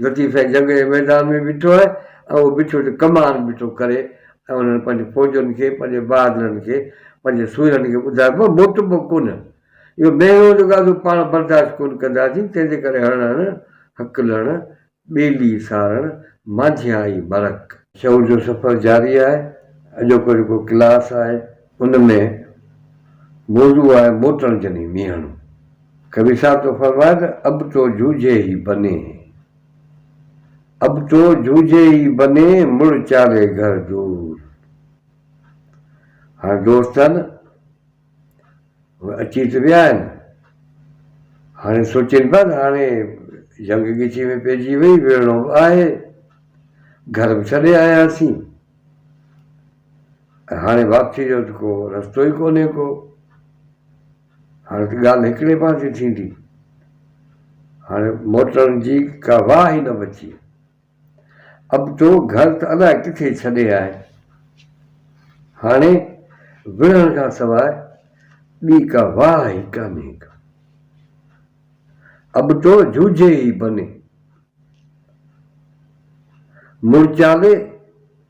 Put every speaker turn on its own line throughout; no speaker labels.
لطيف سائين جنگ جي ميدان ۾ بيٺو آهي ۽ اهو بيٺو ته ڪمار بيٺو ڪري ۽ انهن پنهنجي فوجن کي پنهنجي بهادرن کي پنهنجي سوئرن کي ٻڌايو مان موٽبو ڪونه اهو مهروز غازو پاڻ برداشت ڪونه ڪنداسين تنهن جي ڪري هڻ هڻ هڪ لڻ ٻيلي سارڻ مانجهي آئي مرڪ. شعور جو سفر جاري آهي اڄوڪو جيڪو ڪلاس آهي ان ۾ موضوع آهي موٽڻ جني مينهڻو. ڪوي صاحب ٿو فرمائي ته اب تو جوجهي هي بني هي اب تو جوجهي هي بني مڙ چالي گهر دور هاڻ دوست ٿا نه هو اچي ته ويا آهن هاڻي سوچين پيا ته هاڻي جنگ ڳچي ۾ پئجي وئي وڙهڻو به آهي گهر به ڇڏي آياسين ۽ هاڻي واپسي جو ته ڪو رستو ئي ڪونهي ڪو هاڻي ته ڳالهه هڪڙي پاسي ٿيندي. هاڻي موٽڻ جي ڪا واهه ئي نه بچي. اب تو گهر ته الاء ڪٿي ڇڏي آء. هاڻي وڙهڻ کان سواء ٻي ڪا واهه ئي ڪانهي ڪا. اب تو جوجهي ئي بني. مڙچالي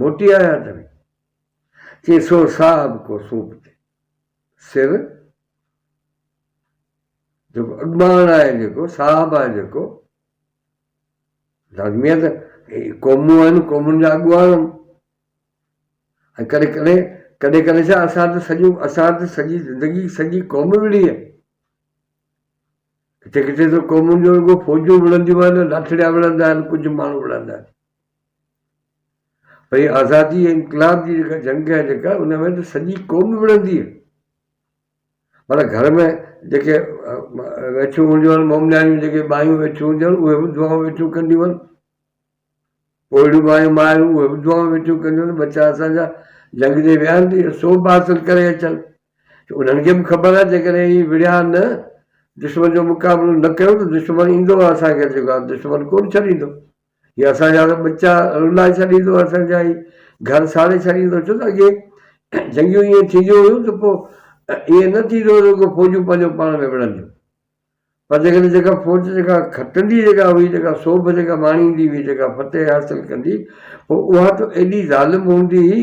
موٽي آيا تنهن چي سو صاحب ڪو سوپ تي سر جيڪو اڳڀان آهي جيڪو صاحب آهي جيڪو لازمي آهي ته قومون آهن قومن جا اڳواڻ آهن ۽ ڪڏهن ڪڏهن ڪڏهن ڪڏهن ڇا اسان ته سڄو اسان ته سڄي زندگي سڄي قوم وڙهي آهي ڪٿي ڪٿي ته قومن جو رڳو فوجون وڙهنديون آهن لاٺڙيا وڙهندا آهن ڪجهه ماڻهو وڙهندا آهن ۽ آزادي ۽ انقلاب جي جيڪا جنگ آهي جيڪا ان ۾ ته سڄي قوم وڙهندي آهي پر گهر ۾ جيڪي ويٺيون هونديون آهن مئو نياڻيون جيڪي ٻايون ويٺيون هونديون آهن اهي به دعائون ويٺيون ڪنديون آهن پوڙهيون ٻايون مايون اهي به دعائون ويٺيون ڪنديون آهن ٻچا اسانجا جنگ تي ويا آهن ته سو به حاصل ڪري اچن انهن کي به خبر آهي جيڪڏهن هي وڙهيا نه دشمن جو مقابلو نه ڪيو ته دشمن ايندو اسان کي جيڪو آهي دشمن ڪونه ڇڏيندو يا اسان جا ته ٻچا رلائي ڇڏيندو اسان جا هي گهر ساڙي ڇڏيندو ڇو ته اڳي جنگيون ائين ٿينديون هيون ته پوء ائين نه ٿيندو هو رڳو فوجون پنهنجو پاڻ ۾ وڙهنديون پر جيڪڏهن جيڪا فوج جيڪا کٽندي جيڪا هئي جيڪا سوڀ جيڪا ماڻيندي هئي جيڪا فتح حاصل ڪندي پوء اها ته ايڏي ظالم هوندي هئي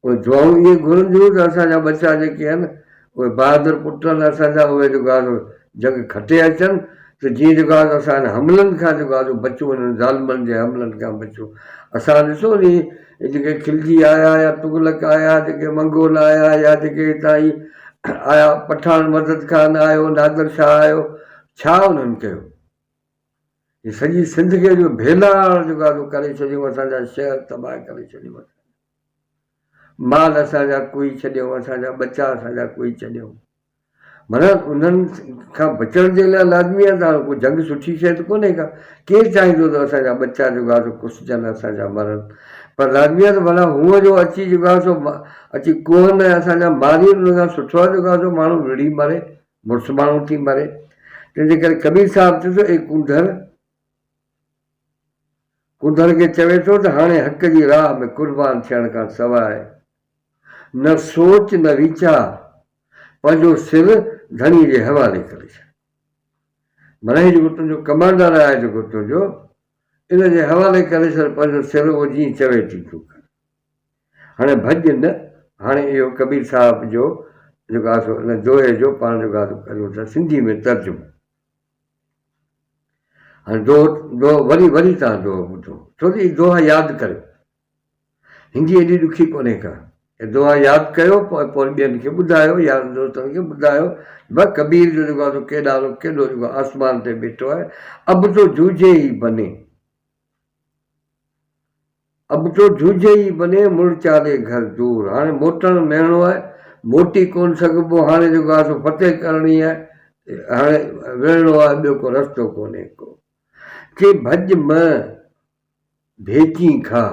پوء دعائون ائين گهرنديون ته اسان جا ٻچا جيڪي آهن اهي بهادر پٽ آهن اسان جا اهي جيڪو آهي سو جنگ کٽي اچن ته جيئن جيڪو آهي سو اسان هنن حملن کان جيڪو آهي سو بچون هنن ظالمن جي حملن کان بچون اسان ڏسو ني هي جيڪي خلجي آيا يا تغلق آيا جيڪي منگول آيا يا جيڪي هتان هي آيا پٺاڻ مدد خان آيو نادر شاهه آيو ڇا انهن ڪيو هي سڄي سنڌ کي جو ڀيلاڙ جيڪو آهي سو ڪري ڇڏيون اسان جا شهر تباهه ڪري ڇڏيون اسان جا. مال اسان جا ڪوئي ڇڏيو، اسان جا ٻچا اسان جا ڪوئي ڇڏيو. معنيٰ انهن کان بچڻ جي لاء لازمي آهي ته هاڻ ڪو جنگ سٺي شيء ته ڪونهي ڪا. ڪير چاهيندو ته اسان جا ٻچا جيڪا سو ڪسجن، اسان جا مرن. پر لازمي آهي ته ڀلا هونء جو اچي جيڪا سو اچي ڪوهن ۽ اسان جا ماري ان کان سٺو آهي جيڪا سو ماڻهو وڙهي مري، مڙس ماڻهو ٿي مري. تنهن جي ڪري ڪبير صاحب چيو ته اي ڪونڌر! ڪنڌر کي چوي ٿو ته هاڻي حق جي راهه ۾ قربان ٿيڻ کان سواء نه سوچ نه ويچار، پنهنجو سر ڌڻي جي حوالي ڪري ڇڏ. معنيٰ هي جيڪو تنهنجو ڪمانڊر آهي جيڪو تنهنجو، ان جي حوالي ڪري ڇڏ پنهنجو سر اهو جيئن چوي تيئن تون ڪر. هاڻي ڀڄ نه، هاڻي اهو ڪبير صاحب جو جيڪو آهي سو ان دوهي جو پاڻ جيڪو آهي سو ڪريون ٿا سنڌي ۾ ترجمو. هاڻي دوهه، دوهه، وري، وري توهان دوهه ٻڌو، ڇو ته هي دوها ياد ڪريو. هندي ايڏي ڏکي ڪونهي ڪا. هي دوها ياد ڪيو، پوء پوء وري ٻين کي ٻڌايو، يارن دوستن کي ٻڌايو. بس ڪبير جو جيڪو آهي سو ڪيڏانهن، ڪيڏو جيڪو آسمان تي بيٺو آهي. اب تو جوجهي هي بني. اب تو جھوجھي ئي بني مڙ چالي گھر دور هاڻي موٽڻ مهڻو آهي موٽي ڪونه سگهبو هاڻي جيڪو آهي سو فتح ڪرڻي آهي هاڻي وڙهڻو آهي ٻيو ڪو رستو ڪونهي ڪو ڪي ڀڄ م ڀيچين کان.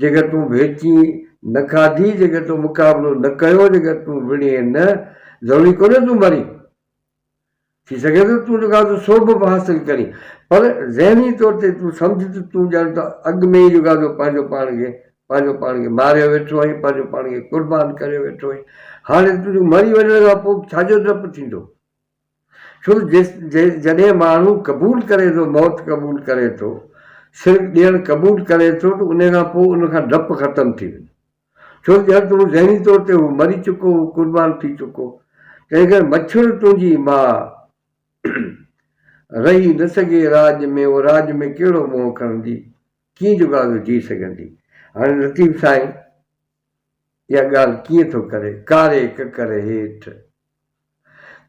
جيڪر تون ڀيچي نه کاڌي، جيڪر تون مقابلو نه ڪيو، جيڪر تون وڙهين نه، ضروري ڪونهي تون مرين. ٿي سگهي ٿو تون جيڪو آزو سو به حاصل ڪرين، پر ذهني طور تي تون سمجهه ته تون ڄڻ ته اڳ ۾ ئي جيڪو آزو پنهنجو پاڻ کي پنهنجو پاڻ کي ماريو ويٺو آهين، پنهنجو پاڻ کي قربان ڪريو ويٺو آهين. هاڻي تون جيڪو مري وڃڻ کان پوء به ڇا جو ڊپ ٿيندو؟ ڇو جو جڏهن ماڻهو قبول ڪري ٿو موت قبول ڪري ٿو سر ڏيڻ قبول ڪري ٿو ته انهي کان پوء ان کان ڊپ ختم ٿي ويندو ڇو جو ڄڻ ته هو ذهني طور تي هو مري چڪو هو قربان ٿي چڪو هو تنهن ڪري مڇر تنهنجي ماء رهي نه سگهي راڄ ۾ هو راڄ ۾ ڪهڙو منهن کڻندي ڪيئن جوڳازو جي سگهندي هاڻي لطيف سائين اها ڳالهه ڪيئن ٿو ڪري؟ ڪاري ڪڪر هيٺ.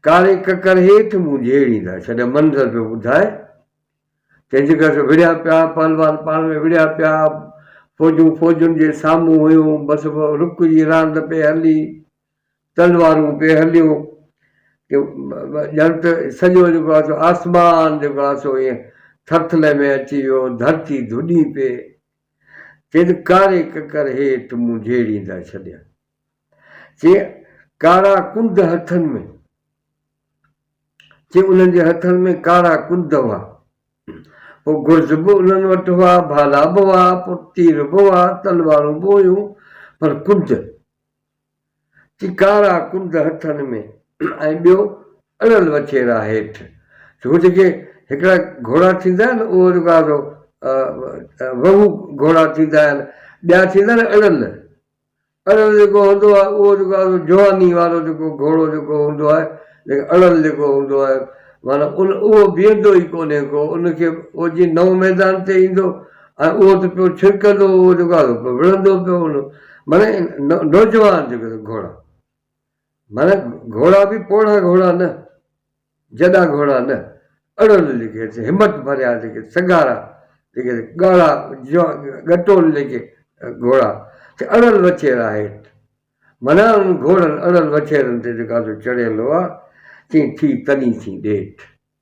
ڪاري ڪڪر هيٺ مون جهيڙي نه ڇڏيم. منظر پيو ٻڌائي. تنهن جي گهر وڙهيا پيا، پهلوان پاڻ ۾ وڙهيا پيا، فوجون فوجن جي سامهون هيون، بس رڪ جي راند پئي هلي، تلوارون پئي هليون، ڄڻ ته سڄو جيڪو آهي سو آسمان جيڪو آهي سو ائين ٿرٿلي ۾ اچي ويو، ڌرتي ڌڏي پئي. تن ڪاري ڪڪر هيٺ مون جهيڙيندا ڇڏيا. چي ڪارا ڪنڌ هٿن ۾. چي انهن جي هٿن ۾ ڪارا ڪنڌ هئا. پوء گرز به انهن وٽ هئا، ڀالا به هئا، پوء تير به هئا، تلوارون به هيون، پر ڪنڌ. چي ڪارا ڪنڊ هٿن ۾ ۽ ٻيو اڙل وڇيرا هيٺ. هو جيڪي هڪڙا گهوڙا ٿيندا آهن اهو جيڪو آهي سو وهو گهوڙا ٿيندا آهن ٻيا ٿيندا آهن اڙل. اڙل جيڪو هوندو آهي اهو جيڪو آهي سو جواني وارو جيڪو گهوڙو جيڪو هوندو آهي ليڪن اڙل جيڪو هوندو آهي معنيٰ ان اهو بيهندو ئي ڪونهي ڪو ان کي اهو جي نئون ميدان تي ايندو ۽ اهو ته پيو ڇرڪندو هو جيڪو آهي سو وڙهندو پيو هوندو هو. معنيٰ نوجوان جيڪو سو گهوڙا، معنيٰ گهوڙا به پوڙها گهوڙا نه، جڏا گهوڙا نه، اڙل جيڪي سي همت ڀريا جيڪي سگهارا جيڪي سي ڳاڙها ڳٽول جيڪي گهوڙا سي اڙل وڇيرا هيٺ، معنيٰ انهن گهوڙن اڙل وڇيرن تي جيڪا سو چڙهيل هئا، چيئي ٿي تني ٿي ڏيٺ.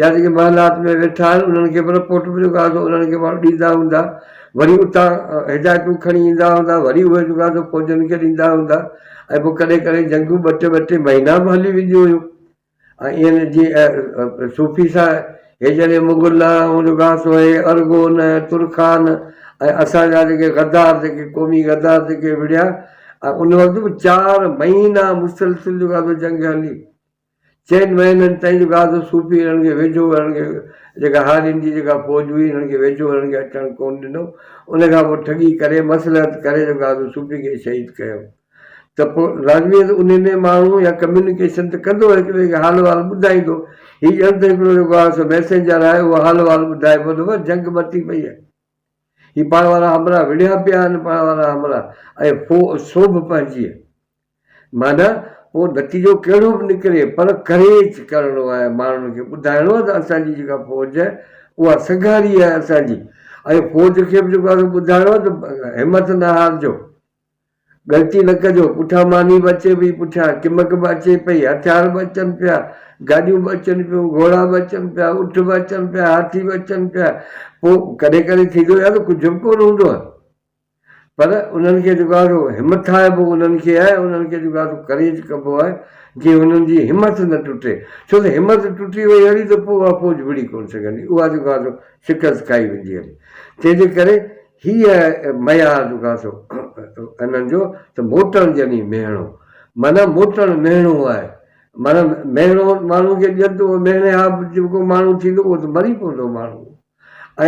يا جيڪي محلات ۾ ويٺا آهن انهن کي به رپورٽ مليو ڪا ته انهن کي ماڻهو ڏيندا هوندا وري اتان هدايتون کڻي ايندا هوندا وري اهي جيڪو آهي سو فوجن کي ڏيندا هوندا ۽ پوء ڪڏهن ڪڏهن جنگون ٻه ٽي ٻه ٽي مهينا به هلي وينديون هيون ۽ اين جي صوفي صاحب هي جڏهن مغل آئون جيڪو آهي سو هي ارغون ترخان ۽ اسان جا جيڪي غدار جيڪي قومي غدار جيڪي وڙهيا ۽ ان وقت به چار مهينا مسلسل جيڪو آهي سو جنگ هلي چئن مهينن تائين جو غازو صوفي هنن کي ويجهو هنن کي جيڪا هارين جي جيڪا فوج هئي هنن کي ويجهو هنن کي اچڻ ڪون ڏنو ان کان پوء ٺڳي ڪري مصلحت ڪري جو غازو صوفي کي شهيد ڪيو ته پوء راضويء تي انهي ۾ ماڻهو يا ڪميونيڪيشن ته ڪندو هڪ ٻئي کي حال احوال ٻڌائيندو هي ڄڻ ته هڪڙو جيڪو آهي سو ميسينجر آهي اهو حال احوال ٻڌائي پوء ته بس جنگ مٽي پئي آهي هي پاڻ وارا همراهه وڙهيا پيا آهن پاڻ وارا همراهه ۽ فو سوڀ پنهنجيء معنيٰ پوء نتيجو ڪهڙو به نڪري پر ڪريچ ڪرڻو آهي ماڻهن کي ٻڌائڻو آهي ته اسان جي جيڪا فوج آهي اها سگهاري آهي اسان جي ۽ فوج کي به جيڪو آهي ٻڌائڻو آهي ته همٿ نه هارجو غلطي نه ڪجو پٺيان ماني به اچي پئي پٺيان ڪمڪ به اچي پئي هٿيار به اچن پيا گاڏيون به اچن پيون گهوڙا به اچن پيا اٺ به اچن پيا هاٿي به اچن پيا پوء ڪڏهن ڪڏهن ٿيندو آهي ته ڪجهه به ڪونه هوندو آهي. پر انهن کي جيڪو آهي سو همٿائبو انهن کي آهي انهن کي جيڪو آهي سو ڪريج ڪبو آهي جيئن انهن جي همٿ نه ٽٽي ڇو ته همٿ ٽٽي وئي هلي ته پوء اها فوج وڙهي ڪونه سگهندي اها جيڪو آهي سو شڪست کائي ويندي هلي تنهن جي ڪري هي معيار جيڪو آهي سو انهن جو ته موٽڻ ڄڻي مهڻو معنيٰ موٽڻ مهڻو آهي معنيٰ مهڻو ماڻهو کي ڏين ته اهو مهڻي ها به جيڪو ماڻهو ٿيندو اهو ته مري پوندو ماڻهو.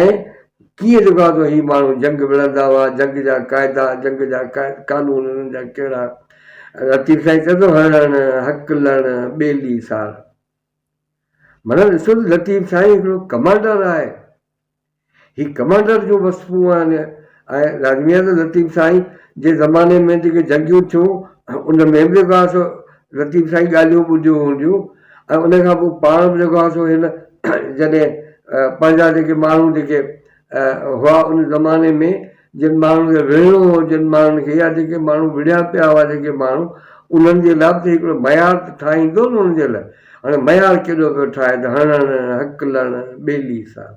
۽ ڪيئن جو ڪا ته هي ماڻهو جنگ وڙهندا هئا، جنگ جا قاعدا، جنگ جا قانون انهن جا ڪهڙا؟ لطيف سائين چئي ٿو، هڻڻ، هڪلڻ، ٻيلي سار. معنيٰ ڏسو ته لطيف سائين هڪڙو ڪمانڊر آهي. هي ڪمانڊر جون وصفون آهن ۽ لازمي آهي ته لطيف سائين جي زماني ۾ جيڪي جنگيون ٿيون ان ۾ به جيڪو آهي سو لطيف سائين ڳالهيون ٻڌيون هونديون ۽ ان کان پوء پاڻ به جيڪو آهي سو هن جڏهن پنهنجا جيڪي ماڻهو جيڪي هئا ان زماني ۾ جن ماڻهن کي وڙهڻو هو جن ماڻهن کي يا جيڪي ماڻهو وڙهيا پيا هئا جيڪي ماڻهو انهن جي لاء به هڪڙو معيار ته ٺاهيندو نه انهن جي لاء هاڻي معيار ڪيڏو پيو ٺاهي ته هڻڻ، هڪلڻ، ٻيلي سارڻ.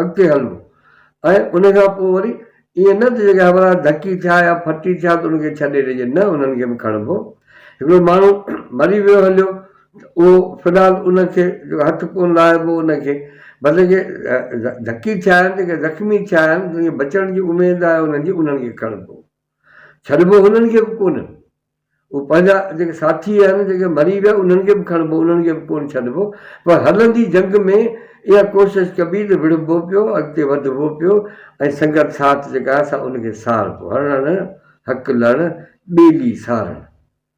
اڳتي هلبو ۽ ان کان پوء وري ائين نه ته جيڪي همراهه ڌڪي ٿيا يا ڦٽي ٿيا ته انهن کي ڇڏي ڏجي، نه انهن کي به کڻبو. هڪڙو ماڻهو مري ويو هليو ته اهو في الحال ان کي جيڪو هٿ ڪونه لاهبو ان کي بس جيڪي ڌڪي ٿيا آهن، جيڪي زخمي ٿيا آهن، جن کي بچڻ جي اميد آهي انهن جي، انهن کي کڻبو. ڇڏبو هنن کي به ڪونه. اهي پنهنجا جيڪي ساٿي آهن جيڪي مري ويا انهن کي به کڻبو انهن کي به ڪونه ڇڏبو پر هلندي جنگ ۾ اها ڪوشش ڪبي ته وڙهبو پيو اڳتي وڌبو پيو ۽ سنگت ساٿ جيڪا آهي سا ان کي ساربو هڻڻ هڪ لڙ ٻيلي سارڻ.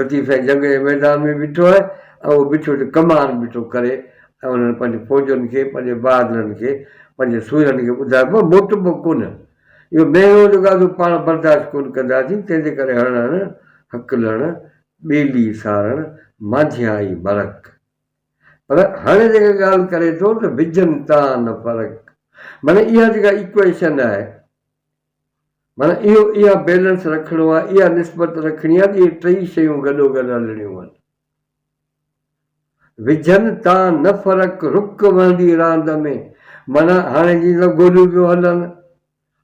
لطيف سائين جنگ جي ميدان ۾ بيٺو آهي ۽ اهو بيٺو ته ڪمار بيٺو ڪري ۽ انهن پنهنجي فوجن کي پنهنجي بهادرن کي پنهنجي سوئرن کي ٻڌايو مان موٽندو ڪونه اهو مهينو جو گادو پاڻ برداشت ڪونه ڪنداسين تنهن جي ڪري هڻ هڻ هڪ لڻ ٻيلي سارڻ مانجهيائي مرڪ پر هاڻي جيڪا ڳالهه ڪري ٿو ته وجهن تان نه فرق معني اها جيڪا ايڪوئيشن آهي معنيٰ اهو اها بيلنس رکڻو آهي اها نسبت رکڻي آهي ته اهي ٽئي شيون گڏو گڏ هلڻيون هن وجهن تان نه فرق رڪ وهندي راند ۾، معنيٰ هاڻي جيئن ته گوليون پيون هلن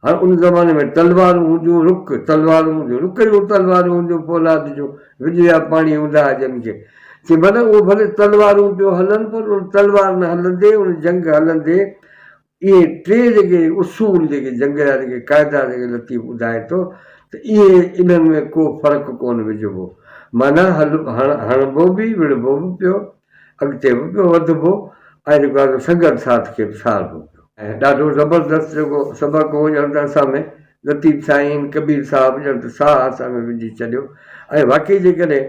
هاڻ ان زماني ۾ تلوارون هونديون رڪ تلوارون هونديون رڪ جون تلوارون هونديون پولاد جون وڄڙيا پاڻي هوندا هئا جن کي چي معنيٰ اهو ڀلي تلوارون پيون هلن پر ان تلوارن هلندي ان جنگ هلندي اهي ٽي جيڪي اصول جيڪي جنگ جا جيڪي قاعدا جيڪي لطيف ٻڌائي ٿو ته اهي انهن ۾ ڪو فرق ڪونه وجهبو معنيٰ هڻبو به وڙهبو به پيو اڳتي به پيو وڌبو ۽ جيڪو آهي سو سنگت ساٿ کي به ساربو پيو. ڏاڍو زبردست جيڪو سبق هو ڄڻ ته اسان ۾ لطيف سائين ڪبير صاحب ڄڻ ته ساهه اسان ۾ وجهي ڇڏيو ۽ واقعي جيڪڏهن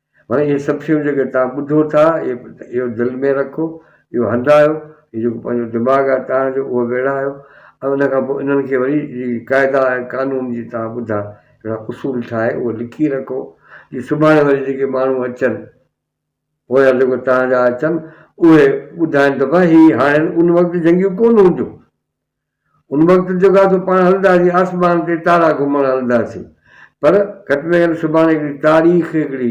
معنيٰ اهي سڀ شيون جيڪي توهان ٻڌو ٿا، اهو دل ۾ رکو، اهو هنڌايو، هي جيڪو پنهنجو دماغ آهي توهان جو، اهو ويڙهايو ۽ ان کان پوء انهن کي وري جي قاعدا ۽ قانون جي توهان ٻڌا هڪڙا اصول ٺاهي اهو لکي رکو، جي سڀاڻي وري جيڪي ماڻهو اچن، پويان جيڪو توهان جا اچن، اهي ٻڌائن ته ڀاء هي هاڻي ان وقت جنگيون ڪونه هونديون، ان وقت جوڳا تون پاڻ هلنداسين آسمان تي تارا گهمڻ هلنداسين پر گهٽ ۾ گهٽ سڀاڻي هڪڙي تاريخ هڪڙي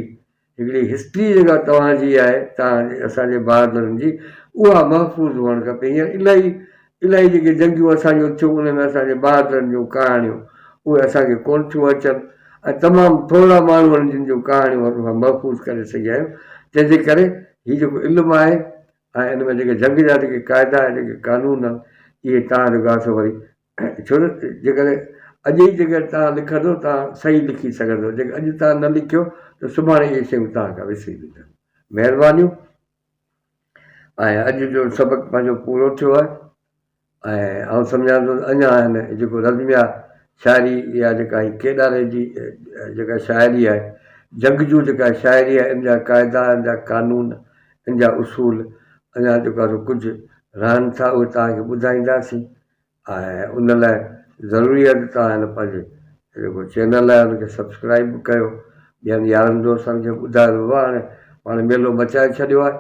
هڪڙي هسٽري جيڪا توهان جي آهي توهان جي اسان جي بهادرن جي اها محفوظ هئڻ کپي هينئر الاهي الاهي جيڪي جنگيون اسان جون ٿيون ان ۾ اسان جي بهادرن جون ڪهاڻيون اهي اسان کي ڪونه ٿيون اچن ۽ تمام ٿورا ماڻهو آهن جن جون ڪهاڻيون اسان محفوظ ڪري سگهيا آهيون تنهنجي ڪري هي جيڪو علم آهي ۽ ان ۾ جيڪي جنگ جا جيڪي قاعدا ۽ جيڪي قانون آهن اهي توهان جو گاسو وري ڇو نه جيڪڏهن اڄ ئي جيڪڏهن توهان لکندو توهان صحيح لکي سگهندو جيڪڏهن اڄ توهان نه لکيو ته سڀاڻي اهي شيون توهان کان وسري وينديون مهربانيون ۽ اڄ جو سبق پنهنجو پورو ٿيو آهي ۽ آئون سمجهان ٿو ته اڃا هن جيڪو نظميا شاعري يا جيڪا هي ڪيڏاري جي جيڪا شاعري آهي، جنگجو جيڪا شاعري آهي ان جا قاعدا، ان جا قانون، ان جا اصول اڃا جيڪو آهي سو ڪجهه رهن ٿا اهي توهان کي ٻڌائينداسين ۽ ان لاء ضروري آهي ته توهان هن پنهنجي جيڪو چينل آهي ان کي سبسڪرائيب به ڪيو ٻين يارن دوستن کي ٻڌايو بابا هاڻي پاڻ ميلو مچائي ڇڏيو آهي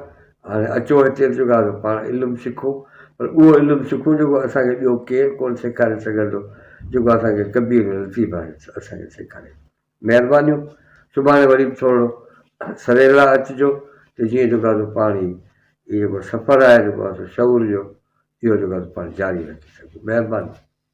هاڻي اچو هتي ته چونڪه آهي پاڻ علم سکون پر اهو علم سکون جيڪو اسان کي ٻيو ڪير ڪونه سيکاري سگهندو جيڪو اسان کي ڪبير ۽ لطيف ڀائي اسان کي سيکاري مهربانيون سڀاڻي وري به ٿورڙو سريلا اچجو ته جيئن جيڪو آهي پاڻ هي جيڪو سفر آهي جيڪو آهي شعور جو اهو جيڪو آهي پاڻ جاري رکي سگهون مهرباني.